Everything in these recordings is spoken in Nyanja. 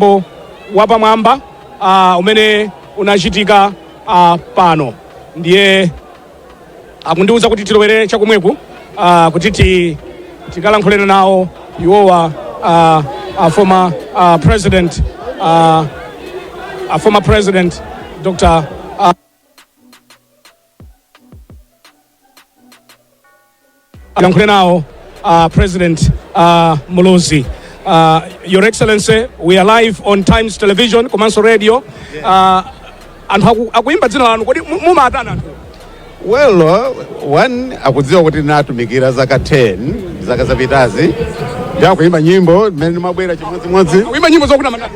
mwambo wapamwamba ah, umene unachitika ah, pano ndiye akundiuza kuti tilowere chakumweku ah, kuti ti- tikalankhule nawo iwowa ah, ah, former ah, president ah, ah, former president dr ah, lankhulana nawo uh, president uh, muluzi uh, your excellency we are live on times television komanso radio uh, anthu aku- akuimba dzina lanu kodi mu- mumawatani anthu well uh, one akudziwa kuti ndinatumikira zaka 10 zaka zapitazi ndi akuimba nyimbo mmene ndimabwera chimodzimodzi kuimba nyimbo zokuti amatama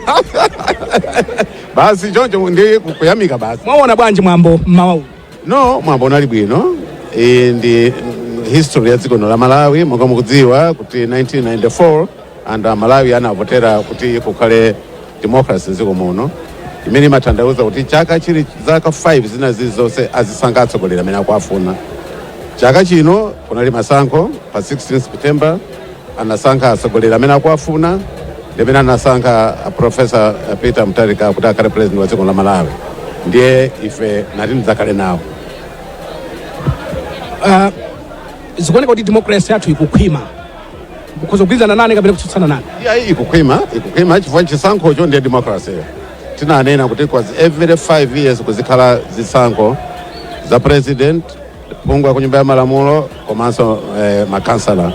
basi choncho ndi kuyamika basi mwaona bwanji mwambo mmawa uwu no mwambo unali bwino iyi ndi mm, history ya dziko lino la malawi monga mukudziwa kuti 1994 anthu a malawi anavotera kuti kukhale democracy mdziko muno imene imatanthauza kuti chaka chili zaka 5 zina zilizonse azisankha atsogoleri amene akuwafuna chaka chino kunali masankho pa 16 september anasankha atsogoleri amene akuwafuna ndi mmene anasankha a professor peter mutharika kuti akhale president wa dziko la malawi ndiye ife ndati ndidzakhale nawo Ah, zikuoneka kuti democracy yathu ikukhwima mukhoza kugwirizana nane kapena kutsutsana nane iyayi ikukhwima ikukhwima chifukwa chisankhocho ndiye democracy tinanena kuti kwa every 5 years kuzikhala zisankho za president phungu wa ku nyumba ya malamulo komanso eh, makhansala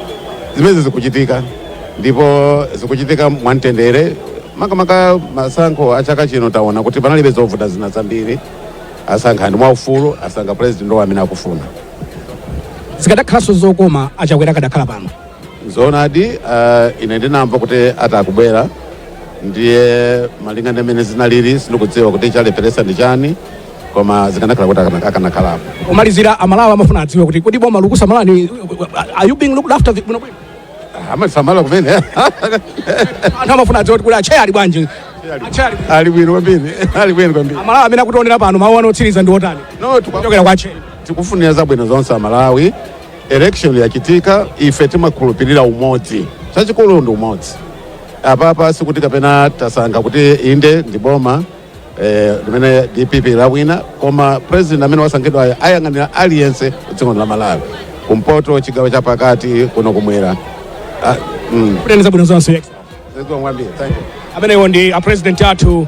zimenezi zikuchitika ndipo zikuchitika mwamtendere makamaka masankho a chaka chino taona kuti panalibe zovuta zina zambiri asankha anthu mwaufulu asankha president wawo amene akufuna zikadakhalanso zokoma achakwera akadakhala pano Zoonadi uh, ine ndinamva kuti ati akubwera ndiye malinga ndi mmene zinalili sindikudziwa kuti chalepheretsa ndi chani koma zikanakhala kuti akana- akanakhalapo Kumalizira amalawi amafuna adziwe kuti kodi boma likusamalani are you being looked after vi- bwino bwino? amasamala kumene Anthu amafuna adziwe kuti kodi acheya ali bwanji? Acheya ali bwanji? ali bwino kwambiri ali bwino kwambiri Amalawi amene akutionera pano mawu anu otsiriza ndi otani? no tikwa- Kuchokera kwa acheya. tikufunira zabwino zonse amalawi Election yachitika ife timakhulupirira umodzi chachikulu ndi umodzi apapa sikuti kapena tasankha kuti inde ndi boma eh, limene dpp lawina koma president amene wasankhidwayo ayang'anira aliyense mdziko lino la malawi kumpoto chigawo cha pakati kuno kumwera ah, mm. Kutani zabwino zonse. zikomo kwambiri thank you amenewo ndi a president athu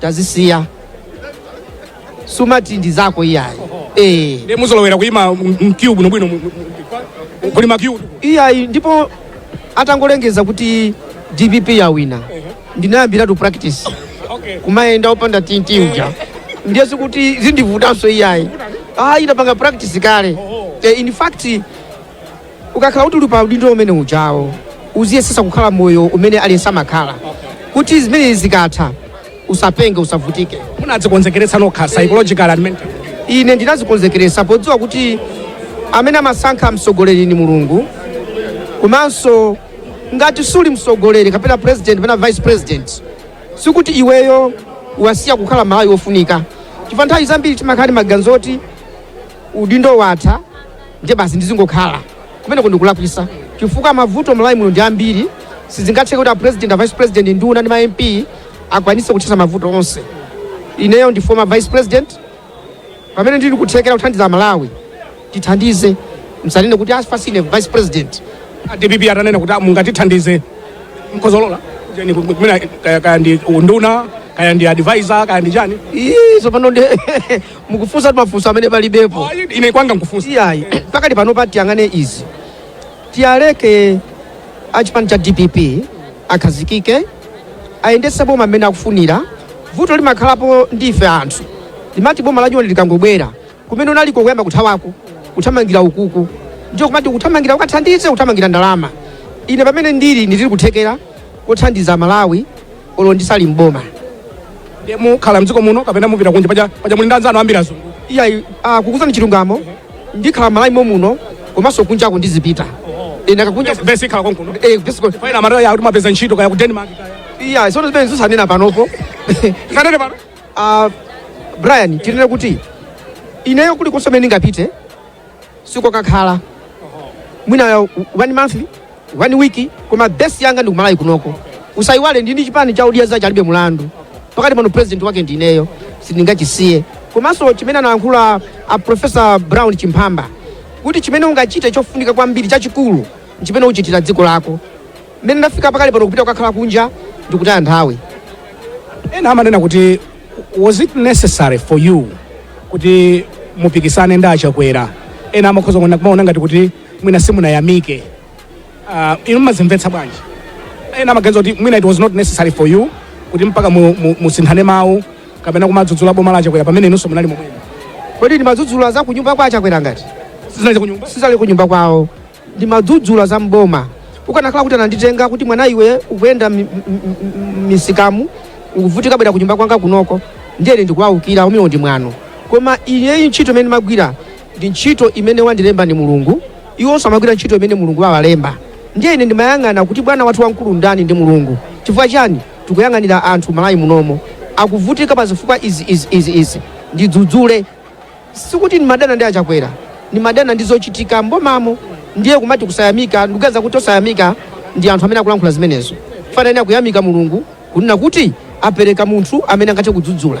tazisiya sumati ndi zako iyayi eh. ndi Muzolowera kuyima m'queue bwinobwino mu- mu- mu- kuli ma queue iyayi ndipo atangolengeza kuti dpp yawina ndinayambiratu practice okay. kumayenda opanda tinti uja ndiye sikuti zindivutanso iyayi ayi ndapanga practice kale eh, in fact Ukakhala kuti uli pa udindo umene ujawo uziyesetsa kukhala moyo umene aliyense amakhala kuti zimenezi zikatha usapenge usavutike. munadzikonzekeretsa nokha psychological and mental ine ndinazikonzekeretsa podziwa kuti amene amasankha mtsogoleri ni mulungu komanso ngati suli mtsogoleri kapena president kapena vice president sikuti iweyo wasiya kukhala mmalawi wofunika chifukwa nthawi zambiri timakhala ndi maganizo oti udindo watha ndiye basi ndizingokhala kumeneko ndikulakwisa chifukwa mavuto malawi muno ndi ambiri sizingatheke kuti a president a vice president nduna ndi ma mp akwanise kuthetsa mavuto onse ineyo ndi former vice president pamene ndili nkuthekera kuthandiza malawi tithandize musanene kuti asfasine vice president a dpp atanena kuti mungatithandize mkozolola jeni kumene kaya ndi unduna kaya ndi advisor kaya ndi chani Ii, tsopano ndi mukufunsa mafunso amene palibepo Ayi, ine kwanga nkufunsa iyayi pakali panopa tiyang'ane izi tiyaleke achipani cha dpp akhazikike ayendetse boma mmene akufunira vuto limakhalapo ndi ife anthu limati boma lanyowani likangobwera kumene unaliko kuyamba kuthawako kuthamangira ukuku ndiyo kumati kuthamangira ukathandize kuthamangira ndalama ine pamene ndili ndili nkuthekera kothandiza malawi olo ndisali mboma ndiye mukhala mdziko muno kapena mupita kunja paja paja muli ndi anzanu ambiri azungu iyayi ah, kukuuzani chilungamo ndikhala malawi momuno komanso kunjako ndizipita ine kunja base ikhala konkuno eh, basically, faina amataya yakuti mwapeza ntchito kaya ku denmark kaya iyayi tsono zimene zisanena panopo musanene pano Ah, brian tinene kuti ineyo kulikonse komwe ndingapite sikokakhala mwina one month 1 week koma base yanga ndi kumalawi kunoko usayiwale ndili ndi chipani cha odya zake alibe mulandu pakali pano president wake ndi ineyo sindingachisiye komanso chimene analankhula a professor brown chimphamba kuti chimene ungachite chofunika kwambiri chachikulu nchimene uchitira dziko lako mmene ndafika pakali pano kupita kukakhala kunja ndikutaya nthawi ena amanena kuti was it necessary for you kuti mupikisane ndi achakwera ena amakhoza kuona ngati kuti mwina simunayamike uh, inu mmazimvetsa bwanji ena amaganiza kuti mwina it was not necessary for you kuti mpaka mu- mu- musinthane mawu kapena kumadzudzula boma la achakwera pamene inunso munali momwemo kodi ndimadzudzula za kunyumba kwa achakwera ngati sizinali kunyumba sizali kunyumba kwawo ndimadzudzula za mboma ukanakhala kuti ananditenga kuti mwana iwe ukuyenda mi- mi- mi- mmisikamu ukuvutika bwera kunyumba kwanga kunoko ndiye ine ndikuwawukira umewo ndi mwano koma iyeyi ntchito imene ndimagwira ndi ntchito imene wandilemba ndi mulungu iwonso amagwira ntchito imene mulungu wawalemba ndiye ine ndimayang'ana kuti bwana wathu wamkulu ndani ndi mulungu chifukwa chani tikuyang'anira anthu malawi munomo akuvutika pa zifukwa izi izi izi izi ndidzudzule sikuti ndimadana ndi achakwera ndimadana ndi zochitika mbomamo ndiye kumati kusayamika ndikuganiza kuti osayamika ndi anthu amene akulankhula zimenezo fanani akuyamika mulungu kunena kuti apereka munthu amene angathe kudzudzula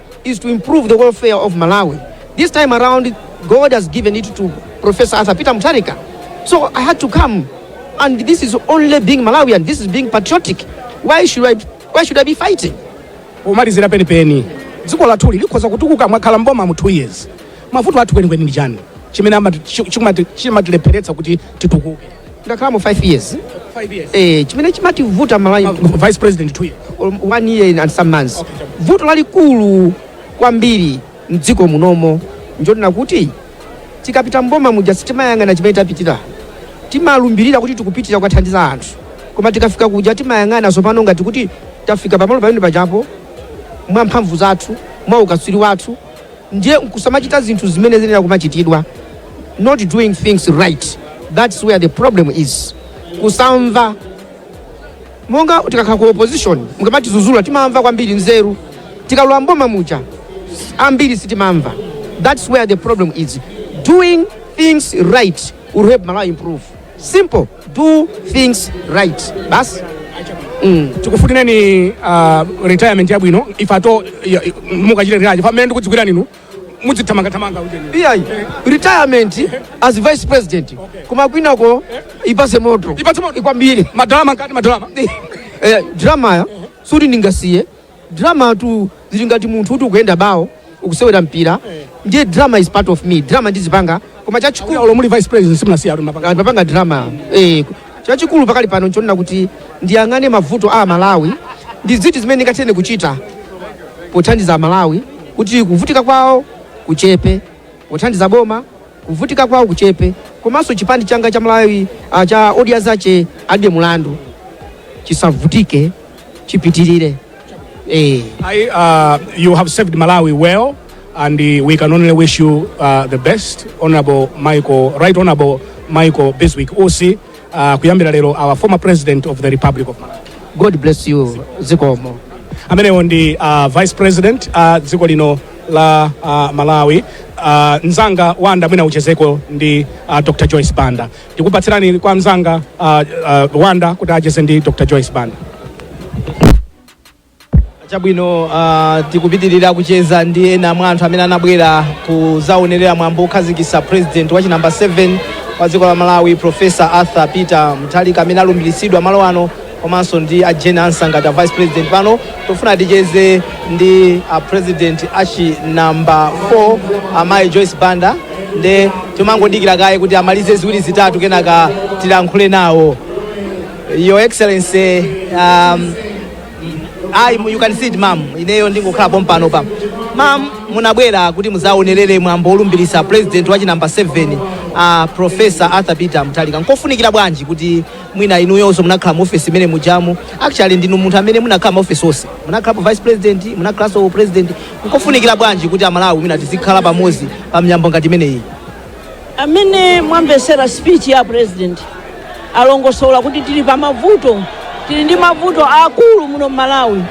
is to improve the welfare of Malawi. This time around, God has given it to Professor Arthur Peter Mutharika. So I had to come. And this is only being Malawian. This is being patriotic. Why should I, why should I be fighting? pomalizira penipeni dziko lathuli likhoza kutukuka mwakhala mboma mu 2 years mavuto athu kwenikweni ndi chani chimene amati- chi- chimati- chimatilepheretsa kuti titukuke ndakhalamo 5 years Five years. eh, chimene chimativuta malawi Vice President two years. one year and some months vuto lalikulu kwambiri mdziko munomo njonena kuti tikapita mboma muja sitimayang'ana chimene tapitira timalumbirira kuti tikupitira kukathandiza anthu koma tikafika kuja timayang'ana tsopano ngati kuti tafika pamalo pamene pajapo mwa mphamvu zathu mwa ukatswiri wathu ndiye nkusamachita zinthu zimene ziyenera kumachitidwa not doing things right that's where the problem is kusamva monga tikakhala ku opposition mukamatidzudzula timamva kwambiri nzeru tikalowa mboma muja ambiri sitimamva that's where the problem is doing things right will help malawi improve simple do things right basi mm. tikufunireni uh, retirement yabwino if at all ya- ya- mukachita retire pamene ndikudziwirani inu mudzithamangathamanga ujeni iyayi retirement as vice president koma kwinako ipatse moto Ipatse moto. kwambiri ma drama ngati ma drama Eh, dramayo siyoti ndingasiye Drama tu zili ngati munthu kuti ukuyenda bawo ukusewera mpira ndiye drama is part of me drama ndizipanga koma chachikulu olo muli vice president simunasiyetu mapanga mapanga drama eh chachikulu pakali pano nchonena kuti ndiyang'ane mavuto a Malawi ndi ziti zimene ndingathe kuchita pothandiza Malawi kuti kuvutika kwawo kuchepe pothandiza boma kuvutika kwawo kuchepe komanso chipani changa cha Malawi ah, cha odya zache alibe mulandu chisavutike chipitirire eh. I, uh, you have served Malawi well, and uh, we can only wish you uh, the best, Honorable Michael, Right Honorable Michael Biswick Usi, uh, kuyambira lero our former President of the Republic of Malawi. god bless you zikomo amenewo ndi uh, vice president a uh, dziko lino la uh, malawi uh, mzanga wanda mwina uchezeko ndi uh, dr joyce banda Ndikupatsirani kwa mzanga uh, uh, Wanda kuti acheze ndi Dr. Joyce Banda. chabwino uh, tikupitirira kucheza ndi ena mwa anthu amene anabwera kuzaonerera mwambo okhazikitsa president wachinamba 7 wa dziko la malawi profesa arthur peter mutharika amene alumbiritsidwa malo ano komanso ndi a Jane Ansa ngati a vice president pano tofuna ticheze ndi a president achinamba 4 amayi Joyce Banda nde timangodikira kaye kuti amalize ziwiri zitatu kenaka tilankhule nawo your excellency um, I, you can sit ma'am ineyo ndingokhala pompanopa ma'am munabwera kuti muzaonerere mwambo olumbiritsa president wachinamba 7 uh, professor arthur peter mutharika nkofunikira bwanji kuti mwina inuyonso munakhala mu office imene mujamu actually ndinu munthu amene munakhala ma office onse munakhalapo vice president munakhalanso president nkofunikira bwanji kuti amalawi mwina tizikhala pamodzi pa miyambo ngati imeneyi mmene mwamvetsera speech ya president alongosola kuti tili pa mavuto tili ndi mavuto aakulu muno mmalawi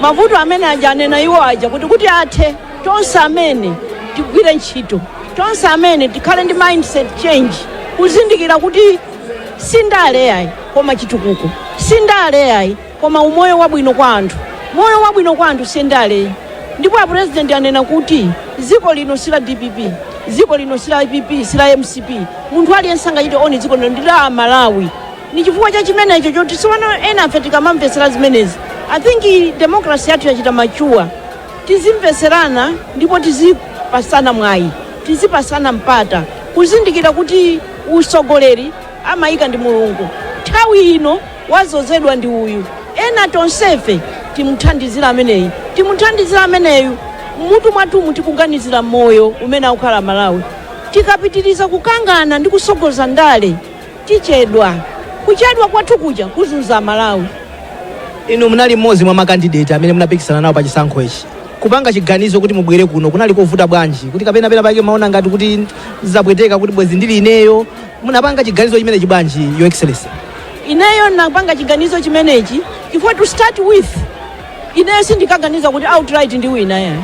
mavuto amene aja anena iwo aja kuti kuti athe tonse amene tigwire ntchito tonse amene tikhale ndi mindset change kuzindikira kuti si ndale yayi koma chitukuko si ndale yayi koma umoyo wabwino kwa anthu moyo wabwino kwa anthu si ndale yayi ndipo apurezidenti anena kuti dziko lino si la dpp dziko lino si la pp si la mcp munthu aliyense angachite own dziko lino ndi la amalawi ndi chifukwa cha chimenecho choti tsopano enafe tikamamvetsera zimenezi i think demokrasi yathu yachita machuwa tizimvetserana ndipo tizipasana mwayi tizipasana mpata kuzindikira kuti utsogoleri amaika ndi mulungu nthawi ino wadzozedwa ndi uyu ena tonsefe timuthandizire ameneyi timuthandizire ameneyu mmutu mwathumu tikuganizira moyo umene akukhala amalawi tikapitiriza kukangana ndi kutsogoza ndale tichedwa kuchedwa kwathu kuja kuzunza amalawi inu munali mmodzi mwa makandideti amene munapikisana nawo pa chisankho ichi Kupanga chiganizo kuti mubwere kuno kunali kovuta bwanji? Kuti kapena pena pake mumaona ngati kuti zapweteka kuti bwezi ndili ineyo. Munapanga chiganizo chimenechi bwanji, Your Excellency? ineyo napanga chiganizo chimenechi chifukwa to start with ineyo sindinkaganiza kuti outright ndiwina yayi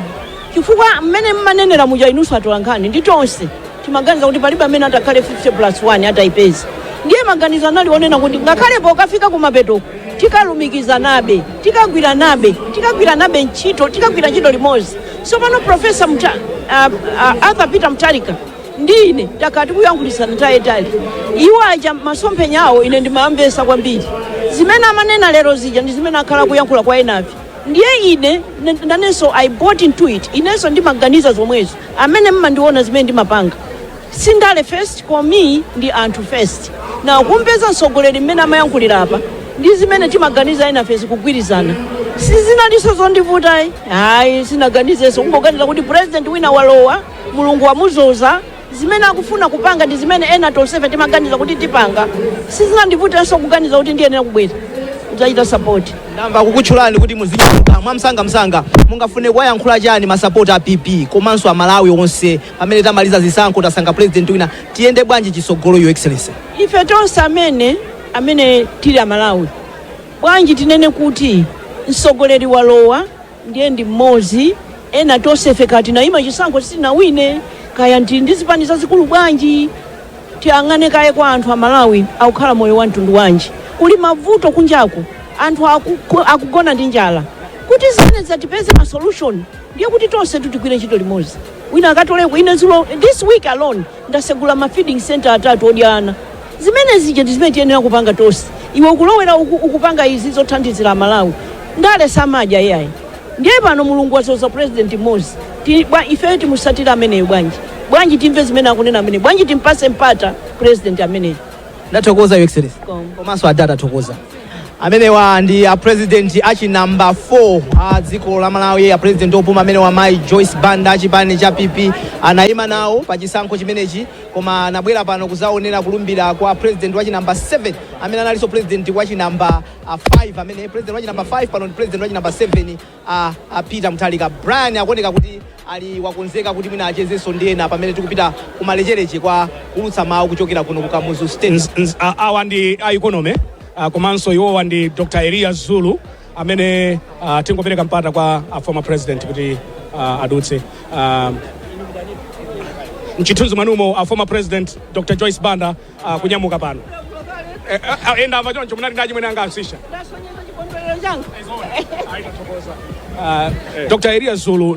chifukwa mmene mmanenera muja inunso atolankhani ndi tonse Timaganiza kuti palibe amene atakhale 50 plus 1 ataipeza. Ndiye maganizo anali onena kuti ngakhale pokafika kumapetoko tikalumikizanabe, tikagwiranabe ntchito, tikagwira ntchito limodzi. Tsopano Profesa Mta, uh, uh, Arthur Peter Mutharika ndi ine takhala tikuyankhulitsana nthawi yaitali. Iwo aja masomphenya awo ine ndimawamvetsa kwambiri. Zimene amanena lero zija ndi zimene akhala akuyankhula kwa enafe. Ndiye ine nanenso I bought into it. Inenso ndimaganiza zomwezo. amene mmandiona zimene ndimapanga si ndale first for me ndi anthu first na kumpeza mtsogoleri mmene amayankhulira apa ndi zimene timaganiza enafesi kugwirizana sizinalinso zondivutayi hayi sinaganizenso kungoganiza kuti president wina walowa mulungu wamuzoza zimene akufuna kupanga ndi zimene ena tonsefe timaganiza kuti tipanga sizinandivutenso kuganiza kuti ndiyenera kubwera kudzachita sapoti ndamva kukutchulani kuti muzinyamuka mwamsangamsanga mungafune kuwayankhula chani masapoti a pp komanso amalawi onse pamene tamaliza zisankho tasankha president wina tiyende bwanji chitsogolo your excellency ife tonse amene amene tili amalawi bwanji tinene kuti mtsogoleri walowa ndiye ndi mmodzi ena tonsefe kaya tinayima chisankho sitinawine kaya ndi ndi zipani zazikulu bwanji tiyang'ane kaye kwa anthu a malawi akukhala moyo wa mtundu wanji kuli mavuto kunjaku anthu akugo- akugona ndi njala kuti zimene zatipeze ma solution ndiye kuti tonse titigwire ntchito limodzi wina akatoleko ine zulo this week alone Ndasegula ma feeding centre atatu odya ana. Zimene zija ndi zimene tiyenera kupanga tonse. Iwe ukulowera uku ukupanga izi zothandizira Amalawi. Ndale samadya iyayi. Ndiye pano Mulungu wadzoza President mmodzi. Ti, bwa, ifeyo timutsatire ameneyo bwanji? Bwanji timve zimene akunena ameneyo? Bwanji timpatse mpata President ameneyo? ndathokoza your excellency komanso adad tathokoza amenewa ndi apresidenti achinamba 4 a dziko la malawi apresidenti opuma amenewa mayi joyce banda achipani cha pp anayima nawo pa chisankho chimenechi koma anabwera pano kuzaonera kulumbira kwa presidenti wachinamba 7 amene analinso presidenti wachinamba 5 amene presidenti wachinamba 5 pano ndi presidenti wachinamba 7 a a Peter Mutharika, Brian akuoneka kuti ali wakonzeka kuti mwina achezenso ndi ena pamene tikupita kumalecheleche kwa kuulutsa mawu kuchokera kuno ku Kamuzu Stadium. Nz- nz- a- awa ndi a economy ah, komanso iwowa ndi dr elias zulu amene ah, tingopereka mpata kwa a former president kuti ah, adutse Ah, mchithunzi mwanumo a former president dr joyce banda ah, kunyamuka pano Eh, ah, ah, enda ava choncho munali ndi achimwene anga asisha ndasonyeza chikondwerero changa Ah, dr elias zulu